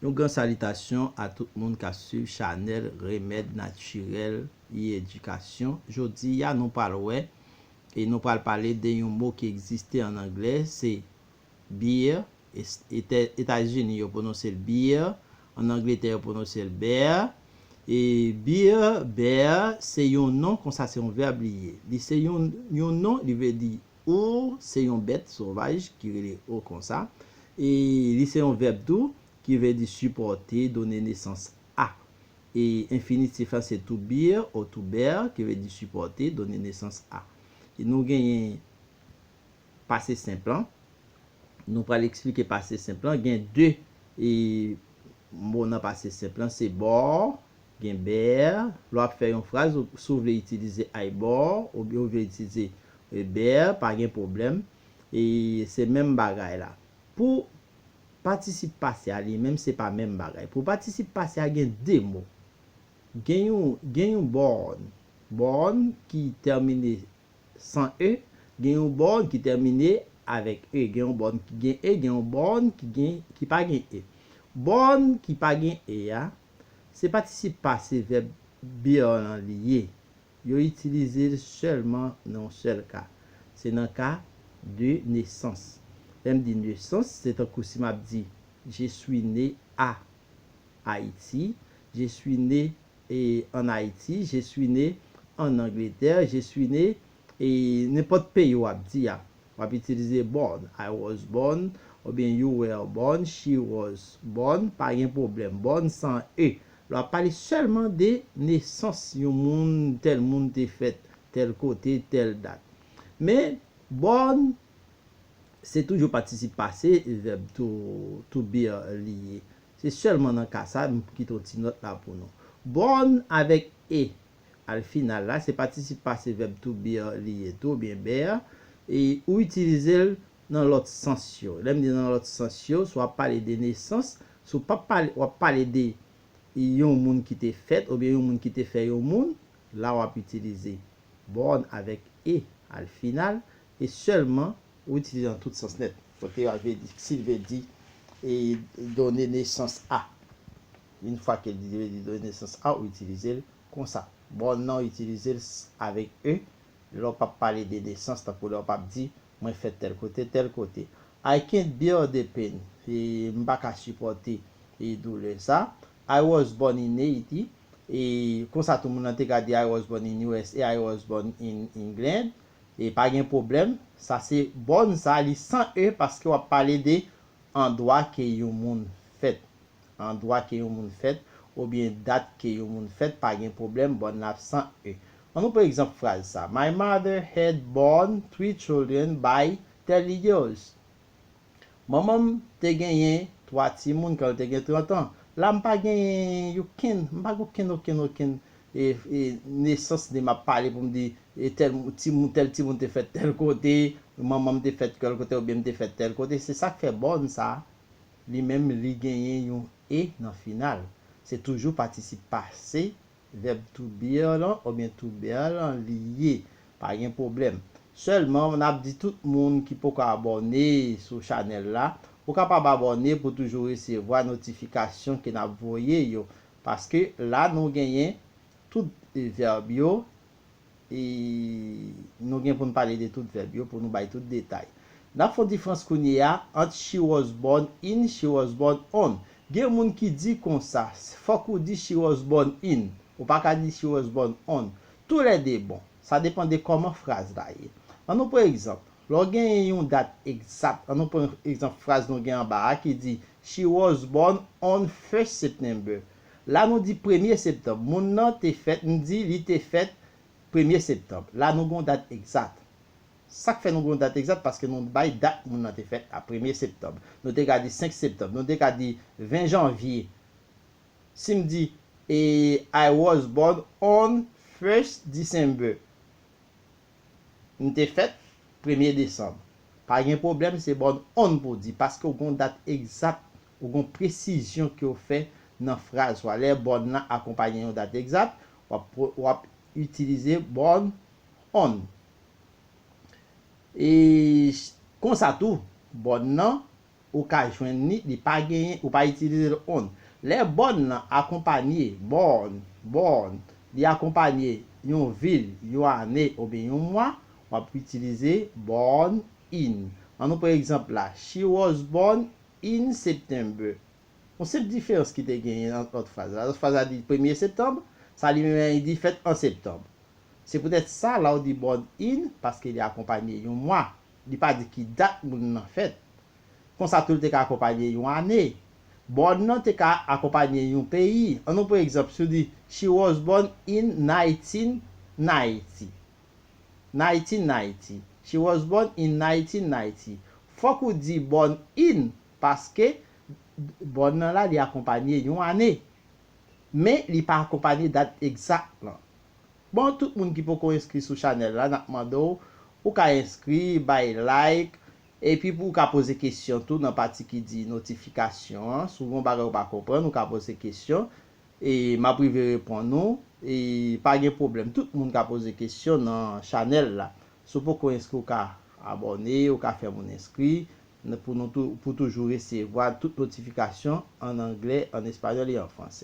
Yon gran salitasyon a tout moun kap swiv chanèl remèd natirèl y edikasyon jodi ya nou pral wè e nou pral pale de yon mo ki egziste an anglè se beer estè etazini yo pwononse l beer an angletè yo pwononse l beer e beer beer se yon non konsa se yon vèb li ye li se yon yon non li vle di Ou se yon bèt sovaj ki rele ou konsa. E li se yon vèb tou, ki vle di sipòte, done nesans a. E enfinitif la se to bear or to bear, ki vle di sipòte, done nesans a. E nou genyen pase senp lan. Nou pral eksplike pase senp lan. Gen de mo nan pase senp lan, se bore Gen beer, lè w ap fè yon fraz, si w vle itilize I bore oubyen w vle itilize beer, pa gen pwoblèm, se menm bagay la. Pou patisip pase a li menm se pa menm bagay. Pou patisip pase a gen 2 mo. Gen yon born, born ki tèmine san e, gen yon bòn ki tèmine avèk e. Gen yon bòn ki gen e, gen yon bòn ki gen ki pa gen e. Bòn ki pa gen e a, se patisip pase vèb bear lan li ye. Yo itilize l sèlman nan yon sèl ka. Se nan ka de nesans. Lè m di nesans, se tankou si m ap di, Je suis né à. Haïti, je suis né en Haïti, je suis né en Angleterre, je suis né e nenpòt peyi w ap di a, w ap itilize born, I was born oubyen you were born, she was born, pa gen pwoblèm, born san e. Lè w ap pale sèlman de nesans yon moun, tèl moun te fèt tèl kote, tèl dat. Men, born Se toujou patisip pase vèb to to be li ye. Se sèlman nan ka sa nou pou kite yon ti nòt la pou nou. Born avèk e al final la, se patisip pase vèb to be li ye tou oubyen bear. E ou itilize l nan lòt sans yo. Lè m di nan lòt sans yo, si w ap pale de nesans, si w pa pale, w ap pale de yon moun ki te fèt oubyen yon moun ki te fè yon moun, la w ap itilize born avèk e al final. E sèlman, ou itilize nan tout sans nèt. Kote a vle di, si l vle di, e done nesans a. Yn fwa ke li vle di done nesans a, ou itilize l konsa. Bon nan ou itilize l avèk e, lè w p ap pale de nesans, tankou lè w p ap di, mwen fèt tèl kote, tèl kote. I can't bear the pain, e m pa ka sipòte e doulè sa. I was born in Haiti, e konsa tou moun nan te ka di I was born in usa, I was born in England. e pa gen pwoblèm sa se born sa li san e paske wap pale de andwa ke yon moun fèt andwa ke yon moun fèt oubyen dat ke yon moun fèt pa gen pwoblèm born la ap san e an nou pran egzanp fraz sa my mother had born three children by tèl years Manman m te genyen 3 timoun kan l te gen 30 an. La m pa genyen yon kenn, m pa gen okenn okenn okenn nesans de m ap pale pou m di tèl timoun tèl timoun te fèt tèl kote, manman m te fèt tèl kote oubyen m te fèt tèl kote. Se sa k fè bòn sa a li menm li genyen yon e nan final. Se toujou patisip pase Vèb to bear lan oubyen to bear lan li ye pa gen pwoblèm. Sèlman nap di tout moun ki poko abòne sou chanèl la ou kapab abòne pou toujou resevwa notifikasyon ke nap voye yo paske la nou genyen tout vèb yo E nou gen pou n pale de tout vèb yo pou nou bay tout detay. N ap fon diferans kounye a ant she was born in, she was born on. Gen moun ki di konsa, fòk ou di she was born in. Ou pa ka di she was born on. Tou lè de bon. Sa depan de kòman fraz la ye. An nou pran egzanp. Lè w genyen yon dat egzat, an nou pran egzanp fraz nou gen anba a ki di, She was born on first September. La nou di premye septanb. Moun nan te fèt, m di li te fèt premye septanb. La nou gen yon dat egzat. Sa k fè nou gen yon dat egzat? Paske nou bay dat moun nan te fèt la, premye septanb. Nou te ka di senk septanb. Nou te ka di ven janvye. Si m di I was born on first December. M te fèt premye desanm. Pa gen pwoblèm se bòn onn pou w di paske w gon dat egzat ou gon presizyon ke w fè nan fraz wa lè bòn lan akonpanye yon dat egzat w ap itilize bòn onn e konsa tou bòn lan Ou ka jwenn li, li pa genyen, ou pa itilize l on. Lè born lan akonpanye, born, born, li akonpanye yon vil, yon ane oubyen yon mwa, w ap itilize born in. An nou pran egzanp la, She was born in September. Yon senp diferans ki te genyen ant lòt fraz la. Lòt fraz la di premye septanb, sa li menm li di fèt an septanb. Se poutèt sa la ou di born in paske li akonpanye yon mwa, li pa di ki dat moun nan fèt. Konsa tou li te ka akonpanye yon ane. Born nan te ka akonpanye yon peyi. An nou pran egzanp, si w di, She was born in 1990. 1990. She was born in 1990. Fòk ou di born in paske born nan la li akonpanye yon ane. Men li pa akonpanye dat egzat lan. Bon tout moun ki poko enskri sou chanèl la nap mande w ou ka enskri, bay like epi pou ou ka poze kesyon tou nan pati ki di notifikasyon an si w gon bagay ou pa konprann ou ka poze kesyon e map rive reponn ou e pa gen pwoblèm tout moun ka poze kesyon nan chanèl la si w poko enskri ou ka abòne ou ka fè moun enskri pou nou pou toujou resevwa tout notifikasyon an anglè an espanyòl e an fransè.